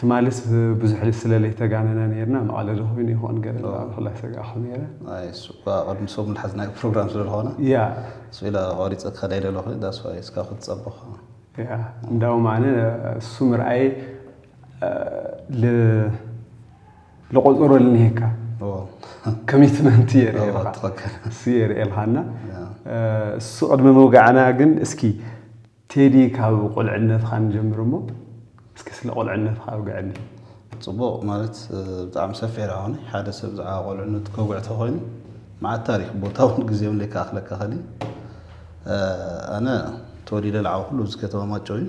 ትማልስ ብዙሕ ስለ ለይተጋነና ነርና መቐለ ዶ ኮይኑ ይኾን ገለ ብዛዕባ ክላ ሰጋእኹ ነረ ኣይ እሱ እኳ ቅድሚ ሰሙን ዝሓዝናዮ ፕሮግራም ስለ ዝኾነ ያ እሱ ኢለ ቆሪፀ ከላይ ደለኹ ዳስዋይ እስካ ክትፀበኹ ያ እንዳውም ኣነ እሱ ምርኣይ ልቆፀሮ ልንሄካ ኮሚትመንት የርእልካ ትኽክል እሱ የርእልካና እሱ ቅድሚ ምውጋዕና ግን እስኪ ቴዲ ካብ ቁልዕነትካ ንጀምር እሞ እስኪ ስለ ቁልዕነትካ ኣውግዐኒ። ጽቡቕ ማለት ብጣዕሚ ሰፊሕ ደኣ ኮነ ሓደ ሰብ ብዛዕባ ቆልዕነቱ ከውግዕ ተኾይኑ መዓት ታሪኽ ቦታውን ግዜውን ለይከኣኽለካ ይኽእል እዩ። ኣነ ተወሊደ ልዓበኹሉ እዚ ከተማ ማይጨው እዩ።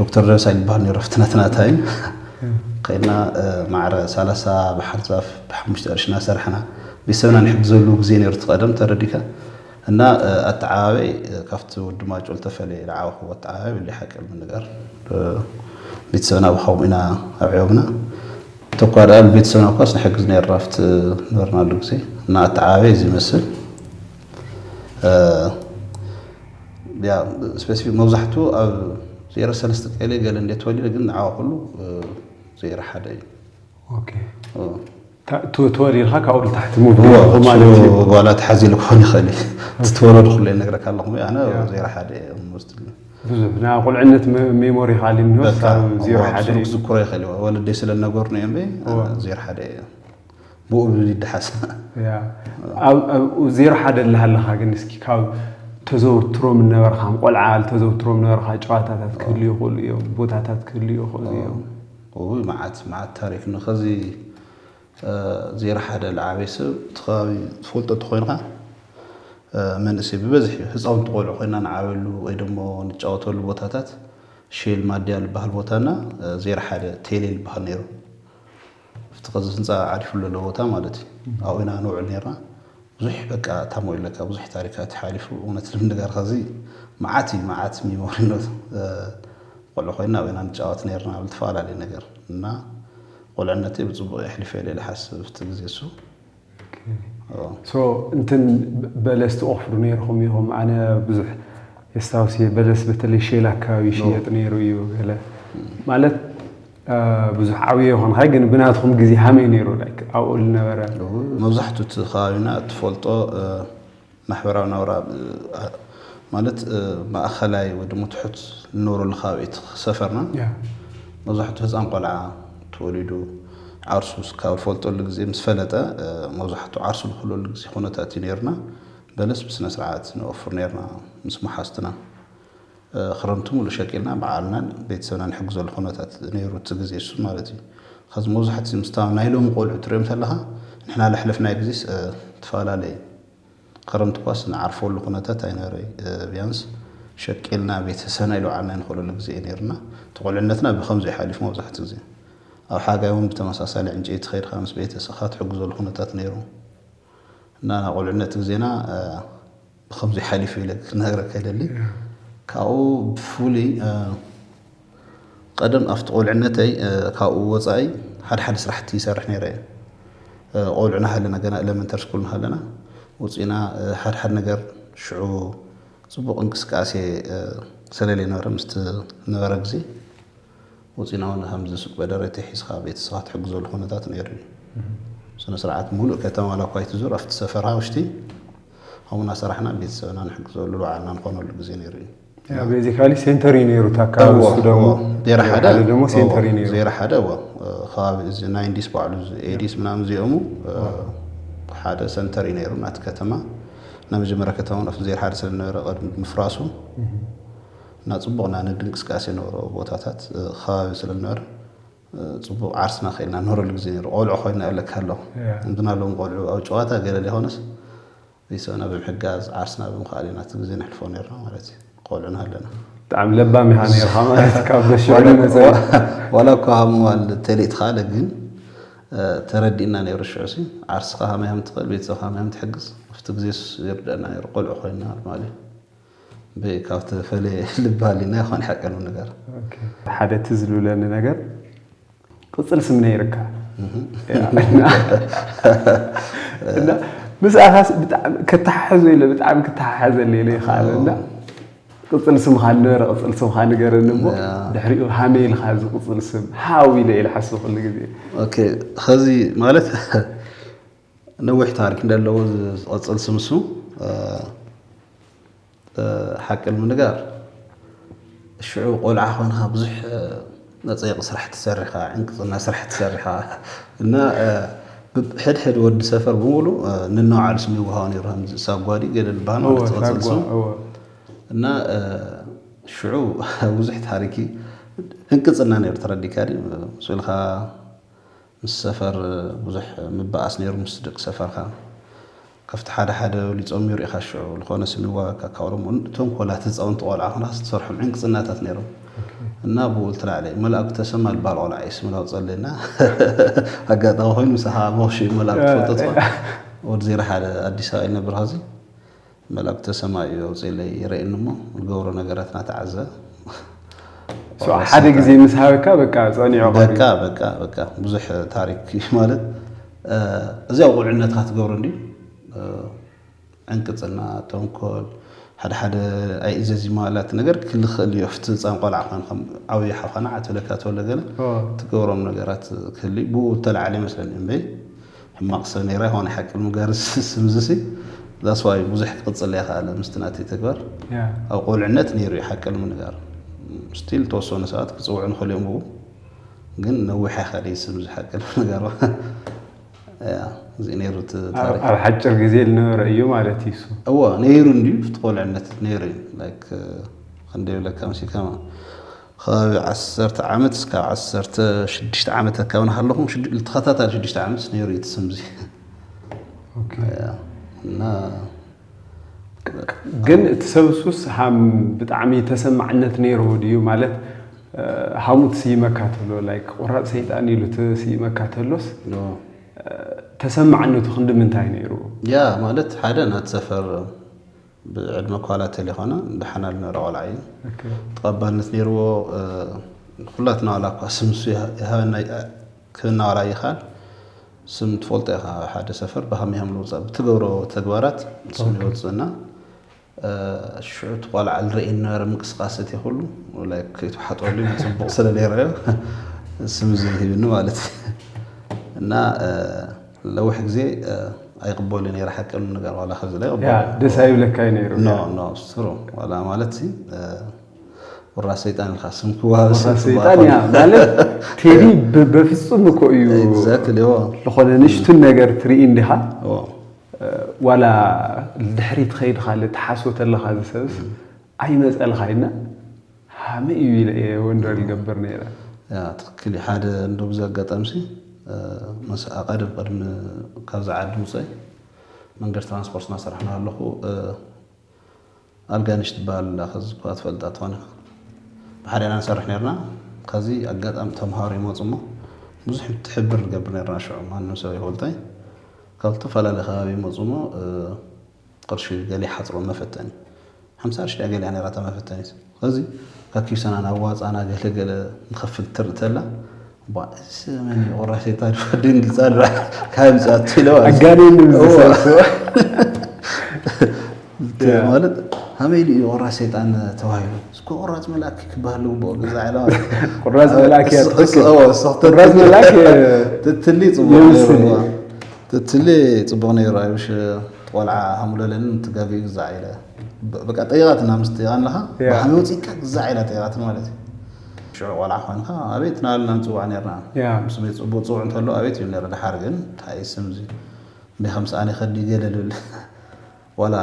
ዶክተር ደበሳይ ንበሃል ነይሩ ኣብቲ ናትና ታይም ከይድና ማዕረ ሰላሳ በሓር ዛፍ ብሓሙሽተ ቅርሺ እናሰርሕና ቤተሰብና ንሕግዘሉ ግዜ ነይሩ እቲ ቀደም ተረዲካ እና ኣተዓባበይ ካብቲ ወዲ ማጮ ዝተፈለየ ዝዓበኹዎ ኣተዓባበይ ብለይ ሓቂ ምንገር ቤተሰብና ብኸምኡ ኢና ኣብዕዮምና ተኳ ደኣ ንቤተሰብና እኳስ ንሕግዝ ነርና ኣብቲ ነበርናሉ ግዜ እና ኣተዓባበይ እዚ ይመስል ስፔሲፊክ መብዛሕትኡ ኣብ ዜሮ ሰለስተ ቀሌ ገለ እንደ ተወሊደ ግን ንዓዋ ኩሉ ዜሮ ሓደ እዩ ተወሊድካ ካብኡ ንታሕቲ ዋላ ተሓዚሉ ክኾን ይኽእል እዩ ዝተወለዱ ኩሉ ነግረካ ኣለኹ ኣነ ዜሮ ሓደ ብዙሕ ናይ ቁልዕነት ሜሞሪ ካሊ ዜሮ ሓደ ክዝክሮ ይኽእል እዩ ወለደይ ስለ ነገሩኒ እዮም ዜሮ ሓደ እዮም ብኡ ብብል ይደሓስ ዜሮ ሓደ ኣለሃለኻ ግን እስኪ ካብ ተዘውትሮም ነበርካ ቆልዓ ተዘውትሮም ነበርካ ጨዋታታት ክህሉ ይኽእሉ እዮም ቦታታት ክህሉ ይኽእሉ እዮም ውይ መዓት መዓት ታሪክ ንኸዚ ዜሮ ሓደ ልዓበይ ሰብ እቲ ከባቢ ትፈልጦ እንተኮይንካ መንእሰይ ብበዝሒ ህፃውንቲ ቆልዑ ኮይና ንዓበሉ ወይ ደሞ ንጫወተሉ ቦታታት ሼል ማድያ ዝበሃል ቦታና ዜሮ ሓደ ቴሌ ዝበሃል ነይሩ ኣብቲ ከዚ ህንጻ ዓሪፉሉ ዘሎ ቦታ ማለት እዩ ኣብኡ ኢና ንውዕል ኔርና ብዙሕ በቃ እታ ሞይ ለካ ብዙሕ ታሪካት እዩ ሓሊፉ እውነት ልምንጋር ከዚ መዓት እዩ መዓት ሚሞሪ ኖት ቆልዑ ኮይና ኣብኡ ኢና ንጫወት ኔርና ኣብ ልተፈላለየ ነገር እና ቆልዕነተይ ብጽቡቕ የሕሊፈ ኢለ ልሓስብ እቲ ግዜ እሱ ሶ እንትን በለስ ትቆፍሩ ነይርኹም ኢኹም ኣነ ብዙሕ የስታውስ እየ በለስ በተለይ ሼል ኣካባቢ ይሽየጥ ነይሩ እዩ ገለ ማለት ብዙሕ ዓብዮ ይኾንካ ግን ብናትኩም ግዜ ሃመይ ነይሩ ኣብኡ ዝነበረ መብዛሕትኡ እቲ ከባቢና እትፈልጦ ማሕበራዊ ናብራ ማለት ማእኸላይ ወይ ድማ ትሑት ንነብረሉ ከባቢ ሰፈርና መብዛሕቱ ህፃን ቆልዓ ተወሊዱ ዓርሱ ስካብ ዝፈልጠሉ ግዜ ምስ ፈለጠ መብዛሕቱ ዓርሱ ዝኽለሉ ግዜ ኩነታት እዩ ነይሩና። በለስ ብስነ ስርዓት ነወፍር ነይርና ምስ መሓዝትና። ክረምቲ ሙሉእ ሸቂልና ባዕልናን ቤተሰብናን ንሕግዘሉ ኩነታት ነይሩ እቲ ግዜ እሱ ማለት እዩ። ኸዚ መብዛሕትኡ ምስታ ናይ ሎሚ ቆልዑ ትሪኦም ተለኻ ንሕና ለሕለፍናዮ ግዜስ ትፈላለ እዩ። ኸረምቲ እኳስ ንዓርፈሉ ኩነታት ኣይነበረ ቢያንስ ሸቂልና ቤተሰብና ኢልባዕልና ንኸለሉ ግዜ እዩ ነይሩና። እቲ ቁልዕነትና ብኸምዚ እዩ ሓሊፉ መብዛሕትኡ ግዜ። ኣብ ሓጋይ እውን ብተመሳሳሊ ዕንጨይቲ ኸይድኻ ምስ ቤተሰኻ ትሕግዘሉ ኩነታት ነይሩ እና ናይ ቁልዕነት ግዜና ብከምዙይ ሓሊፉ ኢለ ክነግረካ ይደሊ ካብኡ ብፍሉይ ቀደም ኣብቲ ቆልዕነተይ ካብኡ ወፃኢ ሓደ ሓደ ስራሕቲ ይሰርሕ ነይረ እየ ቆልዑ ናሃለና ገና ኤለመንተሪ ስኩል ናሃለና ውፅኢና ሓደ ሓደ ነገር ሽዑ ፅቡቅ እንቅስቃሴ ሰለለይነበረ ምስቲ ነበረ ግዜ ወጺና ውን ከምዚ ሱቅ በደረቲ ሒዝካ ቤተሰብካ ትሕግዘሉ ኩነታት ነይሩ እዩ። ብስነ ስርዓት ሙሉእ ከተማ ዋላ እኳ ኣይትዙር ኣብቲ ሰፈርካ ውሽጢ ከምኡ እናሰራሕና ቤተሰብና ንሕግዘሉ ንባዕልና ንኾነሉ ግዜ ነይሩ እዩ። ያ ቤዚካሊ ሴንተር እዩ ነይሩ እታ ኣካባቢ እዎ ንሱ ደግሞ እዎ ዜሮ ዜሮ ሓደ ሓደ ደግሞ እዎ ሴንተር እዩ ነይሩ። ዜሮ ሓደ እዎ ከባቢ እዚ ናይንዲስ ባዕሉ እዚ ኤዲስ ምናምን እዚኦሙ ሓደ ሰንተር እዩ ነይሩ ናቲ ከተማ ናይ መጀመርያ ከተማ ውን ኣብቲ ዜሮ ሓደ ስለዝነበረ ቅድሚ ምፍራሱ እና ፅቡቕ እና ነዲ እንቅስቃሴ ነበሮ ቦታታት ኸባቢ ስለ ዝነበረ ፅቡቕ ዓርስና ከይድና ንህረሉ ግዜ ነይሩ ቆልዑ ኮይና ኣለካ ኣለኹ እንትና ሎም ቆልዑ ኣብ ጨዋታ ገለ ዘይኮነስ ቤተሰብና ብምሕጋዝ ዓርስና ብምኽኣል ኢና እቲ ግዜ ነሕልፎ ነርና ማለት እዩ ቆልዑ ናሃለና ብጣዕሚ ለባም ኢኻ ነርኻ ማለት ካብ በሽዕሉ ነዘ ዋላ እኳ ሃምዋል ተሌት ኻለ ግን ተረዲእና ነይሩ ሽዑሲ ዓርስኻ ሃመያም ትኽእል ቤተሰብካ ሃመያም ትሕግዝ ኣብቲ ግዜስ ይርደአና ነይሩ ቆልዑ ኮይና ማለት እዩ በይ ካብ ተፈለየ ልቢ ሃልዩና ይኾን ሓቂ ንነገር። ሓደ ትዝ ዝብለኒ ነገር ቅፅል ስም ነይርካ እና ምስኣኻስ ብጣዕሚ ከተሓሕዞ ኢለ ብጣዕሚ ክተሓሓዘኒ ኢለ ይኸኣለ እና ቅፅል ስምኻ ነበረ ቅፅል ስምኻ ንገረኒ እሞ ድሕሪኡ ሃመ ኢልካ እዚ ቅፅል ስም ሓው ኢለ ኢለ ሓስብ ኩሉ ግዜ ኦኬ ኸዚ ማለት ነዊሕ ታሪክ እንደለዎ ዝቐፅል ስምሱ ሓቂ ንምንጋር ሽዑ ቆልዓ ኮንካ ብዙሕ መፀየቂ ስራሕ ትሰርሕ ከዓ ዕንቅፅና ስራሕ ትሰርሕ ከዓ እና ሕድሕድ ወዲ ሰፈር ብምሉ ንነውዓሉ ስም ይወሃቦ ነይሩ ከምዚ ሳጓዲ ገለ ዝበሃል ማለት ዝቐፅል ስም እና ሽዑ ብዙሕ ታሪክ ዕንቅፅና ነይሩ ተረዲካ ድዩ ምስ በልካ ምስ ሰፈር ብዙሕ ምባኣስ ነይሩ ምስ ደቂ ሰፈርካ ከፍቲ ሓደ ሓደ ብሊጾም ነይሩ ኢኻ ሽዑ ልኾነ ስም ይዋጋካ ካብ ኦሮሞ ተንኮላት ህጻውንቲ ቆልዓ ኮንካ ስትሰርሖም ዕንቅጽናታት ነይሮም እና ብኡ ልትላዕለ መላእኩ ተሰማ ልባሃል ቆልዓ እዩ ስምላው ጸለ እና ኣጋጣሚ ኮይኑ ምሳኻ ሞክሽ እዩ መላእኩ ትፈልጦ ትኾን ወዲ ዜሮ ሓደ ኣዲስ ኣበባ ይነብር ኸዚ መልእክተ ሰማይ እዩ ኣውጺኢለይ የረእኒ እሞ ዝገብሮ ነገራት ናተዓዘብ። ሶ ሓደ ግዜ ምስ ሃበካ በቃ ጸኒዑ ቀርዩ። በቃ በቃ በቃ ብዙሕ ታሪክ እዩ ማለት እዚ ኣብ ቁልዕነትካ ትገብሮ እንድዩ ዕንቅጽና ተንኮል ሓደ ሓደ ኣይእዘዝ ማለት ነገር ክልክእል እዩ ኣብቲ ህጻን ቆልዓ ኮንካ ዓብዩ ሓውካ ናዓ ትብለካ ተሎ ገለ ትገብሮም ነገራት ክህልዩ ብኡ ዝተላዕለ ይመስለኒ እምበይ ሕማቅ ሰብ ነይራ ይኮን ሓቂ ንምጋር እዚ ስም እዚ ሲ that's why ብዙሕ ክቅጽል ኣይከኣለ ምስቲ ናተይ ተግባር ኣብ ቁልዕነት ነይሩ እዩ ሓቂ ንምንጋር ስቲል ተወሰኑ ሰባት ክጽውዑ ንክእል እዮም ብኡ ግን ነዊሕ ኣይከደይ ስም እዚ ሓቂ ንምንጋር እዚ ነይሩ እቲ ታሪክ ኣብ ሓጭር ግዜ ዝነበረ እዩ ማለት እዩ እሱ እወ ነይሩ እንድዩ እቲ ቁልዕነት ነይሩ እዩ ላይክ ክንደይ ብለካ መሲልካ ኸባቢ ዓሰርተ ዓመት እስካብ ዓሰርተ ሽዱሽተ ዓመት ኣካባቢ ናሃለኹ ተኸታታሊ ሽዱሽተ ዓመት ነይሩ እዩ እቲ ስም እዚ እና ግን እቲ ሰብ ሱስ ሃም ብጣዕሚ ተሰማዕነት ነይሩ ድዩ ማለት ሃሙ ትስይመካ ተሎ ላይ ቆራፅ ሰይጣን ኢሉ ትስይመካ ተሎስ ተሰማዕነቱ ክንዲ ምንታይ ነይሩ ያ ማለት ሓደ ናት ሰፈር ብዕድመ ኳላ ተለይኮነ ደሓን ኣልነረ ቆልዓ እዩ ተቐባልነት ነይርዎ ኩላትና ዋላ እኳ ስም ንሱ ይሃበና ክህና ዋላ ይኻል ስም ትፈልጦ ኢኻ ሓደ ሰፈር ብሃም ሃም ልውፃእ ብትገብሮ ተግባራት ስም ይወፅእና ሽዑ እቲ ቆልዓ ልረእየ ነበረ ምንቅስቃሰት ይኹሉ ላይ ከይተሓጠሉ ፅቡቕ ስለሌረዮ ስም ዝሂብኒ ማለት እዩ እና ለውሕ ግዜ ኣይቕበሉ ነይረ ሓቂ ንገር ዋላ ከዚ ላይ ደስ ኣይብለካ ነይሩ ኖ ኖ ስትሩ ዋላ ማለት ሲ ወራ ሰይጣን ኢልካ ስም ክዋሃብ ሰይጣን እያ ማለት ቴዲ በፍጹም እኮ እዩ ዝኾነ ንሽቱን ነገር ትርኢ እንዲኻ ዋላ ድሕሪ ትኸይድካ ትሓስቦ ተለካ ዝሰብስ ኣይመፀልካ ይና ሃመይ እዩ ኢለ እየ ወንደር ይገብር ነይረ። ያ ትክክል እዩ ሓደ እንዶ ብዚ ኣጋጣሚሲ ምስ ኣቀድም ቅድሚ ካብዚ ዓዲ ምውፀይ መንገድ ትራንስፖርት እናሰራሕኩ እናሃለኹ ኣልጋነሽ ትበሃል ኣላ ከዚ እኳ ትፈልጣ ትኾን ኢኻ ብሓደ ኢና ንሰርሕ ነርና ከዚ ኣጋጣሚ ተምሃሮ ይመፁ እሞ ብዙሕ ትሕብር ንገብር ነርና ሽዑ ማንም ሰብ ኣይፈልጦይ ካብ ዝተፈላለዩ ከባቢ ይመፁ እሞ ቕርሺ ገለ ይሓጽሮም መፈተኒ ሓምሳ ቕርሺ ድያ ገሊኣ ነይራ እታ መፈተኒት ስለዚ ካብ ኪስና ናብ ዋጻና ገለ ገለ ንኸፍል ትርኢ ተላ እባ እዚስ መን እዩ ቑራሴታ ዶ ድንግጻ ዶ ካብ ኣምጽኣቶ ኢለ ኣጋኒኑ ማለት ኣበይ ድዩ ቁራጽ ሰይጣን ተባሂሉ እስኮ ቁራጽ መልኣክ ክበሃል ዝግብኦ ገዛ ዕላማ ቁራጽ መልኣክ እያ ትኽክል ቁራጽ መልኣክ ትትሊ ጽቡቅ ትትሊ ጽቡቅ ነይሩ ኣይውሽ እቲ ቆልዓ ሃሙለለኒ ንቲ ጋቢኡ ግዛዕ ኢለ በቃ ጠይቃትና ምስ ጠይቃን ለኻ ብሓሚ ወጺካ ግዛዕ ኢላ ጠይቃትን ማለት እዩ ሽዑ ቆልዓ ኮንካ ኣቤት ናበልና ንጽዋዕ ነርና ስመይ ጽቡቅ ጽውዕ እንተሎ ኣቤት ይብል ነረ ደሓር ግን ታይ ስምዚ እንዴ ከምሰኣኒ ከዲ ገለ ልብል ዋላ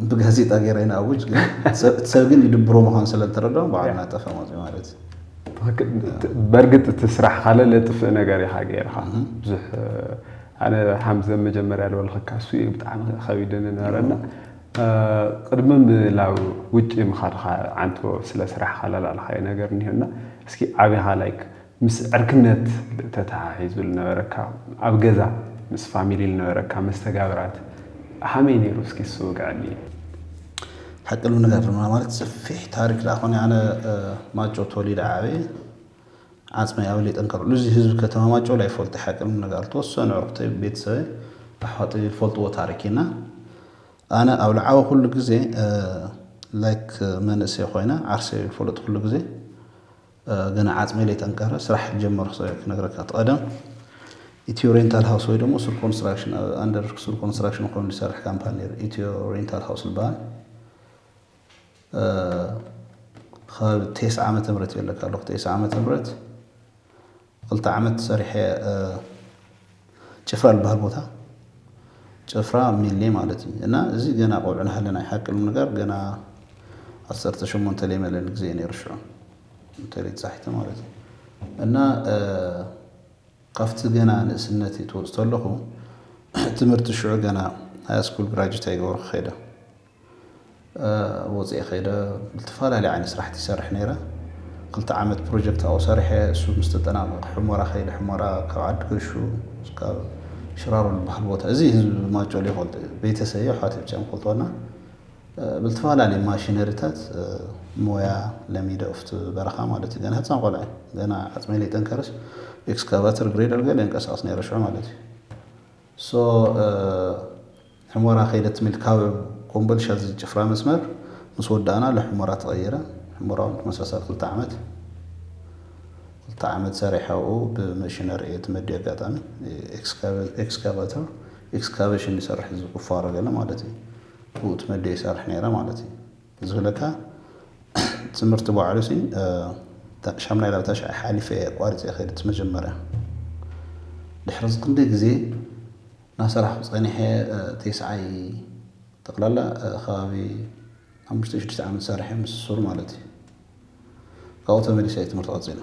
ብጋዜጣ ገይረ ይንኣውጅ ግን እቲ ሰብ ግን ይድብሮ ምዃኑ ስለ ዝተረድኦም ባዕሉ ናጠፈ መፅኡ ማለት እዩ በእርግጥ እቲ ስራሕ ካለ ለጥፍእ ነገር ኢኻ ገይርካ ብዙሕ ኣነ ሃምዘ መጀመርያ ዝበልኸካ እሱ እዩ ብጣዕሚ ከቢድኒ ነበረና ቅድሚ ምላው ውጭ ምኻድካ ዓንቶ ስለ ስራሕ ካላላልካዮ ነገር እኒሆና እስኪ ዓብኻ ላይክ ምስ ዕርክነት ተተሓሒዙ ልነበረካ ኣብ ገዛ ምስ ፋሚሊ ልነበረካ መስተጋብራት ሃመይ ነይሩ እስኪ እሱ ውግዐኒ። ሓቂ ንምንጋር ድማ ማለት ሰፊሕ ታሪክ ደኣ ኮነ ኣነ ማጮ ተወሊደ ዓብየ ዓፅመይ ኣብ ሌጠን ከርዕሉ እዚ ህዝቢ ከተማ ማጮ ላይ ፈልጦ ሓቂ ንምንጋር ተወሰኑ ዕርክተይ ቤተሰበይ ኣሕዋተይ ዝፈልጥዎ ታሪክ እዩ እና ኣነ ኣብ ልዓበኹሉ ግዜ ላይክ መንእሰይ ኮይነ ዓርሰይ ዝፈለጥኩሉ ግዜ ገና ዓጽመይ ለይጠንከረ ስራሕ ክጀምር ክሰብ'የ ክነግረካ። እቲ ቀደም ኢትዮ ሬንታል ሃውስ ወይ ደሞ ሱር ኮንስትራክሽን ኣብ ኣንደር ሱር ኮንስትራክሽን ኮይኑ ዝሰርሕ ካምፓኒ ነይሩ ኢትዮ ሬንታል ሃውስ ዝበሃል ከባቢ ቴስዓ ዓመተ ምህረት እየ ለካ ኣለኹ ቴስዓ ዓመተ ምህረት ክልተ ዓመት ሰሪሐ ጭፍራ ልበሃል ቦታ ጭፍራ ሚሌ ማለት እዩ እና እዚ ገና ቆልዑ ናሃለ ናይ ሓቂ ንምንጋር ገና ዓሰርተ ሸሞንተ ለይመለኒ ግዜ እዩ ነይሩ ሽዑ እንተ ለይተሳሒተ ማለት እዩ እና ካብቲ ገና ንእስነትይ ትወፅ ተለኹ ትምህርቲ ሽዑ ገና ሃያስኩል ግራጁት ኣይገበርኩ ከይደ ኣብ ወጸኢ ከይደ ብልትፋላሊ ዓይነ ስራሕቲ ይሰርሕ ነይረ ክልተ ዓመት ፕሮጀክት ኣብኡ ሰሪሐ እሱ ምስ ተጠናቀቀ ሕሞራ ከይደ ሕሞራ ካብ ዓዲ ገሹ ስካብ ሽራሮ ልበሃል ቦታ እዚ ህዝቢ ማጮሊ ይፈልጦ እዩ ቤተሰብ ኣሕዋት ብቻ ይፈልጦና ብልትፋላሊ ማሽነሪታት ሞያ ለሚደ ኡፍት በረኻ ማለት እዩ ገና ህፃን ቆልዐ ገና ዓፅመይ ለይጠንከረስ ኤክስካቫተር ግሬደር ገለ የንቀሳቅስ ነይረ ሽዑ ማለት እዩ So ሕሞራ ከይደት ሚል ካብ ኮምቦልሻ ዝጭፍራ መስመር ምስ ወዳእና ልሕሞራ ተቐይረ። ሕሞራ ውን ተመሳሳሊ ክልተ ዓመት ክልተ ዓመት ሰሪሐ ኣብኡ ብመሽነሪ እየ ተመድየ ኣጋጣሚ ኤክስካቫተር ኤክስካቬሽን ይሰርሕ እዚ ቁፋሮ ገለ ማለት እዩ ብኡ ተመድየ ይሰርሕ ነይረ ማለት እዩ። ዝብለካ ትምህርቲ ባዕሉ ሲ ሻምናይ ናብ ታሽዓይ ሓሊፈ እየ ኣቋሪፀ ከይደ እቲ መጀመርያ ድሕሪ እዚ ክንደይ ግዜ ናሰራሕኩ ፀኒሐ ቴስዓይ ጠቅላላ ከባቢ ሓሙሽተ ሽዱሽተ ዓመት ሰሪሐ ምስ ሱር ማለት እዩ ካብኡ ተመሊሰ እየ ትምህርቲ ቀፂለ።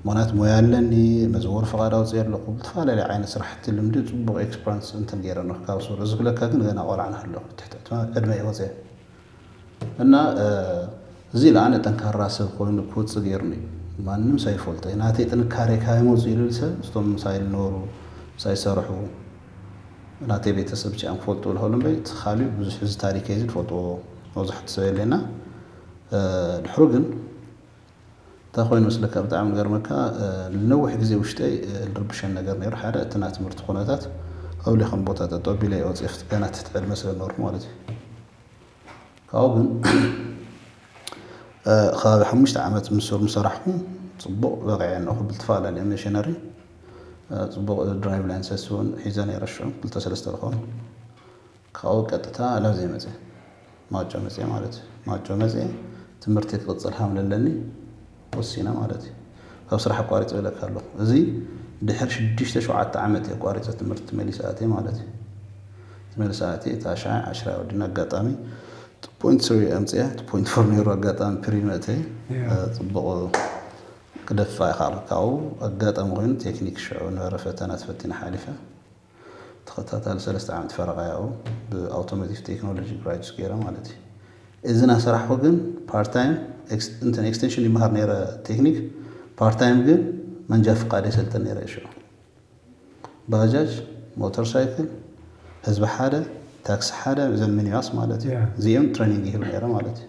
ምክንያቱ ሞያ ኣለኒ፣ መዘወሪ ፍቃድ ኣውፂኤ ኣለኩ፣ ብዝተፈላለየ ዓይነት ስራሕቲ ልምዲ ፅቡቅ ኤክስፕራንስ እንትን ገይረ ኣለኩ ካብ ሱር። እዚ ክብለካ ግን ገና ቆልዓ ናሃለኩ ኣብ ትሕቲ ዕድመ እየ ወፂኤ እና እዚ ልኣነ ጠንካራ ሰብ ኮይኑ ክወፅእ ገይሩኒ እዩ። ማንም ሰብ ይፈልጦ እዩ። ናተይ ጥንካሬ ካበይ መፂኡ ልብል ሰብ እቶም ምሳይ ልነበሩ ምሳይ ዝሰርሑ ናተይ ቤተሰብ ብቻ እዮም ክፈልጡ ልክእሉ እምበይ እቲ ካሊእ ብዙሕ እዚ ታሪከይ እዚ ልፈልጥዎ መብዛሕቱ ሰብ የለይ እና ድሕሩ ግን እንታይ ኮይኑ መስለካ ብጣዕሚ ገርመካ ንነዊሕ ግዜ ውሽጠይ ልርብሸን ነገር ነይሩ ሓደ እቲ ናይ ትምህርቲ ኩነታት ኣብለይ ከም ቦታ ጠጠው ቢለ እየ ወፂኤ ክት ገና ትሕቲ ዕድመ ስለ ነበርኩ ማለት እዩ ካብኡ ግን ከባቢ ሓሙሽተ ዓመት ምስ ምሰራሕኩ ፅቡቕ በቒዐ ኣለኹ ብልተፈላለየ መሽነሪ ፅቡቕ ድራይቭ ላይንሰስ እውን ሒዘ ነይረ ሽዑ ክልተ ሰለስተ ዝኾኑ ካብኡ ቀጥታ ላብዘይ መጼ ማጮ መጼ ማለት እዩ ማጮ መጼ ትምህርተይ ክቅጽል ሃም ለለኒ ወሲነ ማለት እዩ ካብ ስራሕ ኣቋሪጸ ኢለካ ኣለኩ እዚ ድሕሪ ሽዱሽተ ሸውዓተ ዓመት እየ ኣቋሪጸ ትምህርቲ መሊሰ ኣትየ ማለት እዩ ተመልሰ ኣትየ ታሽዓይ ዓሽራይ ወዲና ኣጋጣሚ ፖይንት ስሪ ኣምጽያ እቲ ፖይንት ፎር ነይሩ ኣጋጣሚ ፕሪ መእተይ ጽቡቕ ክደፍኣ ይኸኣልኩ ካብኡ ኣጋጣሚ ኮይኑ ቴክኒክ ሽዑ ነበረ ፈተና ተፈቲነ ሓሊፈ ተኸታታሊ ሰለስተ ዓመት ፈረቓ ያኡ ብኣውቶሞቲቭ ቴክኖሎጂ ግራጁት ገይረ ማለት እዩ። እዚ እናሰራሕኹ ግን ፓርት ታይም እንትን ኤክስቴንሽን ይመሃር ነይረ ቴክኒክ ፓርት ታይም ግን መንጃ ፍቃድ የሰልጥን ነይረ እየ ሽዑ። ባጃጅ፣ ሞተር ሳይክል፣ ህዝቢ ሓደ፣ ታክሲ ሓደ፣ እዘን ሚኒባስ ማለት እዩ። እዚኦም ትሬኒንግ ይህብ ነይረ ማለት እዩ።